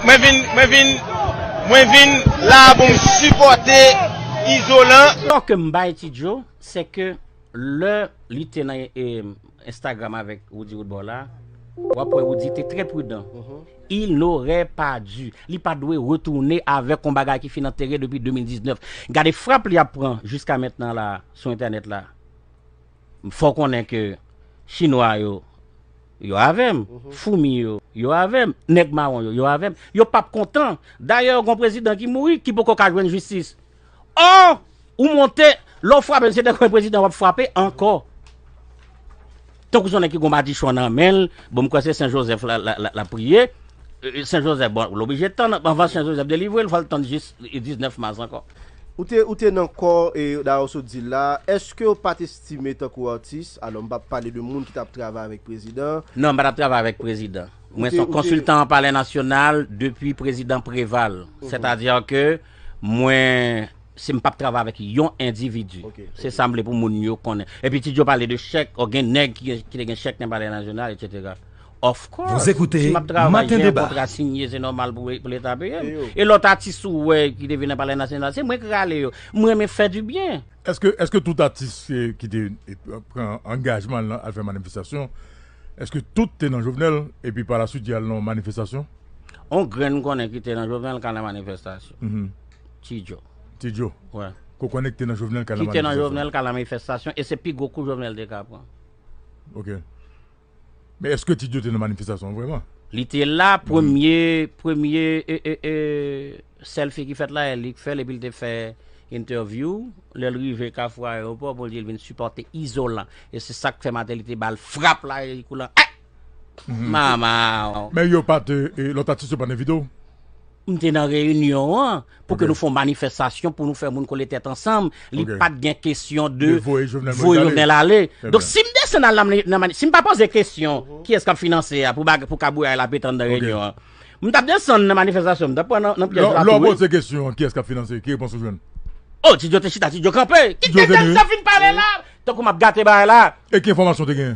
Mwen vin mwen vin mwen vin la pou m sipòte izolan. Tò ke m bay Ti Djo, sè ke lè li te nan Instagram avèk Roody Roodboy la, w ap wè Roody te trè pridan. Il n'aurait pas dû. Li pa dwe retounen avèk yon bagay ki fin antere depi 2019. Gade frap li ap pran jiska mentnan la sou entènèt la. Fò w konnen ke chinwa yo Yo avè m. Foumi yo, yo avè m. Nèg mawon yo, yo avè m. Yo p ap kontan. Dayè, gen yon prezidan ki mouri, ki poko ka jwenn jistis. Ò! Ou monte, lè w frape, se dèfwa prezidan w ap frape ankò. Tankou se yon nèg ki gen yon madichon nan men l, bon, m kwè se Sen Jozèf l ap priye. Sen Jozèf, bon, l oblije tann, anvan Sen Jozèf delivre l, fò l tann jis 19 mas ankò. Ou te nan kò, dayè w sot di l la, èske w pa te Time tankou atis, alò m pa pale de moun ki tap travay avèk prezidan an. Non, m pa tap travay avèk prezidan. Mwen son konsiltan an palè nasyonal depi prezidan Preval. Sètadi ke mwen se m pap travay avèk yon endividi. Se sa m vle pou moun yo konnen. Epi Ti Djo pale de chèk, ò gen nèg ki te gen chèk nan palè nasyonal etsetera. Of course, si map travay gen yon kontra sinye se nòmal pou leta peye m. E lòt atis ou wè ki te vin nan palè nasyonal se mwen k rale yo. M renmen fè du byen. Eske eske tout atis ki te pran angajman al nan al fè manifestasyon eske tout te nan Jovenel epi pa la swit yal nan yon manifestasyon? On grenn m konnen ki te nan Jovenel ka nan manifestasyon. Ti Djo. Ti Djo. Wè. Ke w konnen ki te nan Jovenel ka nan manifestasyon. Ki te nan Jovenel ka nan manifestasyon e se pi gwo kou Jovenel te ka pran. Ok. Men eske Ti Djo te nan manifestasyon an vreman? Li te la premye premye selfie ki fèt la li k fèl epil te fè interview lèl rive kafou aeroport bon li vin sipote izolan e se sak fè Martelly te bal frap la e li kou lan eh! Mama! Men yo pat lòt atis yo pat envite w? M te nan reyinyon an pou ke nou fè yon manifestasyon pou nou fè moun kole tèt ansanm. Li pa t gen kesyon de voye Jovenel ale. Donk si m desann al nan manifestasyon, si m pa poze kesyon kiyès k ap finanse a pou kabouya l ap etann nan reyinyon an, m ta desann nan manifestasyon, m ta pran nan pyèj la tou wi. Lè w poze kesyon kiyès k ap finanse, ki repons ou jwenn? O, ti Djo te chita, ti Djo kanpe. Kit kesyon m te fin pale la. Tankou m ap gate bagay la. E ki enfòmasyon w te genyen?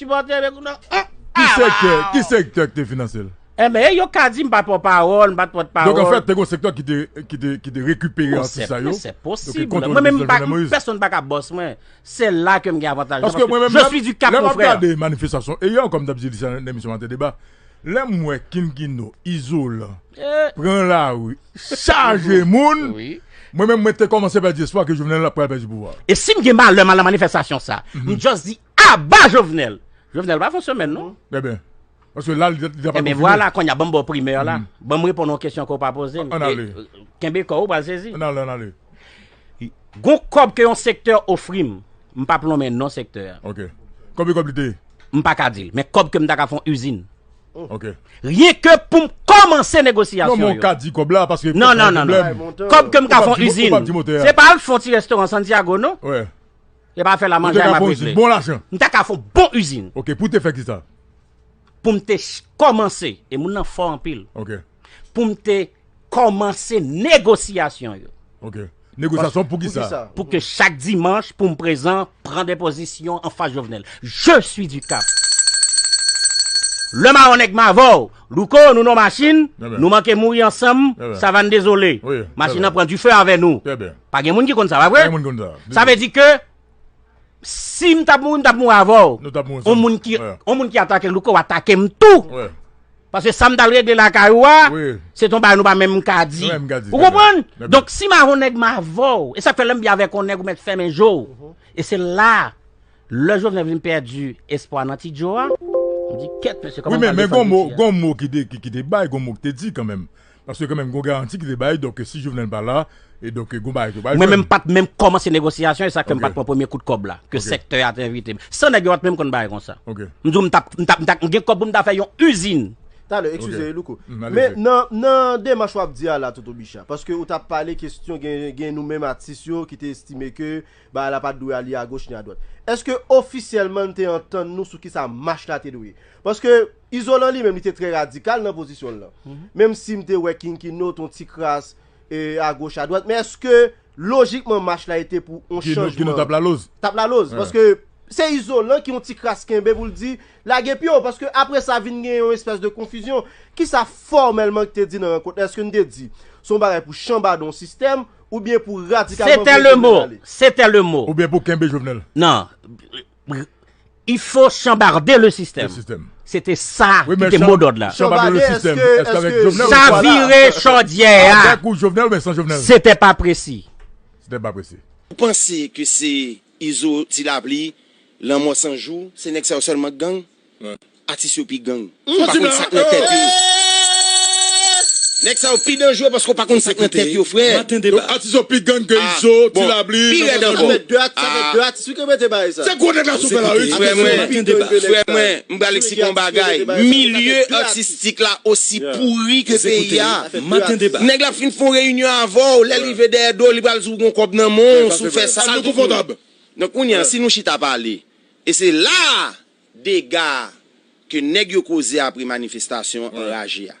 Sipòtè de Goudon an. Ki sektè? Ki sektè ki te finanse l? Enben, e yo ka di m pa t pran pawòl, m pa t pòt pawòl. Donk an fèt, te gen yon sektè ki te, ki te, ki te rekipere atis sa yo. Se posib. Mwen menm m pa, pèsonn pa ka bòs mwen. Se la ke m gen avantaj la. Je suis du Cap, mon frère. Paske mwen menm, lè m ap gade manifestasyon e yo, kòm dap di li sa nan emisyon Maten Deba, lè m wè King Kino, Izolan, pran lari, chaje moun, mwen menm mwen te kòmanse pèdi espwa ke Jovenel ap pral pèdi pouvwa a. E si m gen malè m al nan manifestasyon sa, m just di Aba jovenel! Jovenel pa fon semèn non. Ebyen. Paske la li deja pa konfime. Ebyen vwala konnya banm baw primè la. Banm reponn yon kesyon ke w pa poze m. Ann ale. Kenbe kò w ou pral sezi. Ann ale ann ale. Gon kòb ke yon sektè ofri m. M pap lonmen non sektè a. Ok. Konbyen kòb li te ye? M pa ka di l. Men kòb ke m ta ka fon izin. Ok. Ryen ke pou m kòmanse negosyasyon yo. Non men w ka di kòb la paske. Non non non. Kòb ke m ka fon izin. Ou pap di motè a. Se pa al fon ti restoran Santiago non. Wè. Yo pa fè la manjay map regle. Bon lajan. M ta ka fon bon usine. Ok pou te fè ki sa? Pou m te kòmanse. E moun nan fò anpil. Ok. Pou m te kòmanse negosyasyon yo. Ok. Negosyasyon pou ki sa? Pou ke chak dimanch pou m prezan pran de pozisyon anfas Jovenel. Je suis du cap. Le maron nèg m avè w. Louco nou non machin nou manke mouri ansanm savann dezole machin nan pran dife avè nou pa gen moun ki konn sa pa vre sa vle di ke si m tap mouri m tap mouri avè w on moun ki on moun ki atake louco atake m tou paske sa m tal regle lakay ou a se ton bagay nou pa menm ka di ou konprann donk si m avè w nèg m avè w e sak fè lè m byen avè w on nèg ou mèt fèmen je w e se la Lè Jovenel vin pèdi espwa nan Ti Djo a, m di kèt mesye kòman m pral defann piti a. Gon mo ki te bay, gon mo ki te di kanmenm. Paske kanmenm gon garanti ki te bay, donk si Jovenel pa la, e donk gon bagay ki pral jwenn. Mwen menm m pat menm kòmanse negosyasyon, e sa k fè m pat pran premye kout kòb la, ke sèktè a te envite m. San nèg yo pat menm konn bagay konsa. M di w m ta, m ta, m ta gen kòb pou m ta fè yon izin. Talè, eskize Louko. Men nan demach w ap di a la Toto Bicha, paske ou t ap pale kesyon gen nou menm atis yo ki te estime ke Bagay la pat dwe ale agoch ni adwat. Eske ofisyèlman n te antann nou sou kisa mach la te dwe ye? Paske Izolan li menm li te trè radikal nan pozisyon l lan. Menm si m te wè Kinkino t on ti kras agoch adwat, men eske lojikman mach la ete pou on chanjman? Kinkino t ap laloz. T ap laloz. Paske se Izolan ki on ti kras kenbe pou l di lage pye w. Paske apre sa vin gen yon espès de konfizyon. Kisa fòmèlman k te di nan rankont la? Eske n te di s on bagay pou chanbade on sistèm? Ou byen pou radikalman vye Jovenel ale. Se tè le mo. Ou byen pou kenbe Jovenel. Nan. Il faut chambarder le système. Le système. Se te sa ki te mo dòd la. Chambarder le système. Eske avek Jovenel. Chavire chodyè a. Avek ou Jovenel ou byen san Jovenel. Se te pa presi. Se te pa presi. Ou panse ke se Izo, Ti Lapli, Lanmò 100 jou, se nèg sa yo sèlman k gang? Atis yo pi gang ou pa konn sak nan tèt yo. Nèg sa yo pi danjre paske ou pa konn sak nan tèt yo frè. Donk atis yo pi gang ke izo, ti labli, nanpwen tanjou. Sa fè 2 atis wi kenbe te bay sa. Se gwo nèg atis yo fè la wi. Frè mwen, frè mwen, m pral eksplike yon bagay, milye atistik la osi pouri ke peyi a. Nèg la fin fon reyinyon avè w, lè l rive dèyè do w li pral di w gon kòb nan men w si w fè sa. Sa l vin konfòtab. Donk kounye a si nou chita pale e se la a. Dega ke nèg yo koze apre manifestasyon anraje a.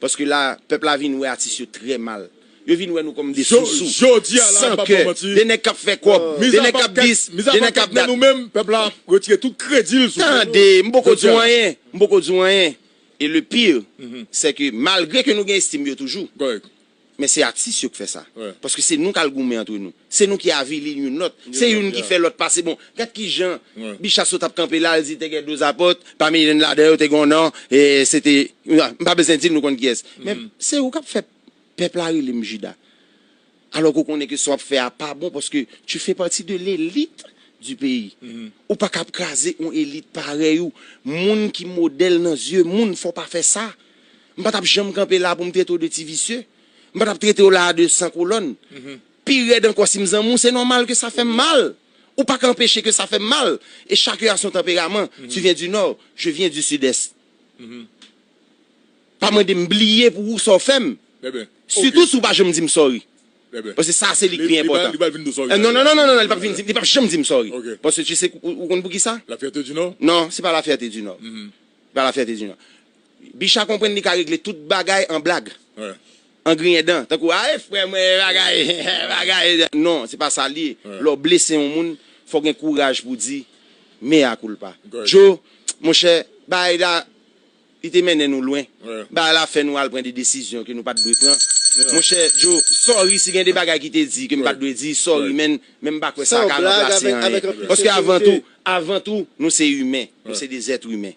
Paske la pèp la vin wè atis yo trè mal. Yo vin wè nou kòm 2 sousou, san kè, 2 nèg kap fè kòb, 2 nèg kap dis, 2 nèg kap dat. Tande, m poko di w anyen, m poko di w anyen. E le pire, sè ke malgre ke nou gen estim yo toujou. Men se atis yo k fè sa. Paske se nou k al goumen antre nou. Se nou ki avili youn lòt. Se youn ki fè lòt pase bon. Gad ki jan Bicha sot ap kanpe la, l di te gen 12 apot, pami youn ladan yo te gen yon non, e se te, m pa bezwen di l nou konn kiyès. Men se ou k ap fè pèp la rele m Jida. Alò ke w konnen ke sa w ap fè a pa bon paske tu fais partie de l'élite du pays. Ou pa ka ap kraze yon elit parèy ou. Moun ki modèl nan zye moun fò w pa fè sa. M pa t ap janm kanpe la pou m trete w de ti visye. M pa t ap trete w la a de san kolòn. Pi rèd ankò si m zanmi w, se nòmal ke sa fè m mal. Ou pa ka anpeche ke sa fè m mal. E chakun a son tanperaman. Tu viens du nord, je viens du sud est. Pa mande m bliye pou ou sa w fè m. Sitou si w pa janm di m sorry. Paske sa a se li k pi enpòtan. Li pral vin di w sorry. Non, non, non, non, li pap vin di m, li pap janm di m sorry. Paske tu sais, ou konn poukisa? La fierté du nord? Non, se pa la fierté du nord. Bal afè Teddy nan. Bicha konprann li ka regle tout bagay an blag. An griyen dan. Tankou ae frè mwen e bagay e bagay. Non, se pa sa li ye. Lè w blese yon moun, fò w gen kouraj pou w di mea culpa. Djo, monchè, bagay la li te mennen nou lwen. Bagay la fè nou al pran de desizyon ke nou pa t dwe pran. Monchè Djo, sorry si gen de bagay ki te di ke m pa t dwe di. Sorry man. Men m pa kwè sa ka ranplase anyen. Paske avan tou, avan tou, nou se imen. Nou se de zèt imen.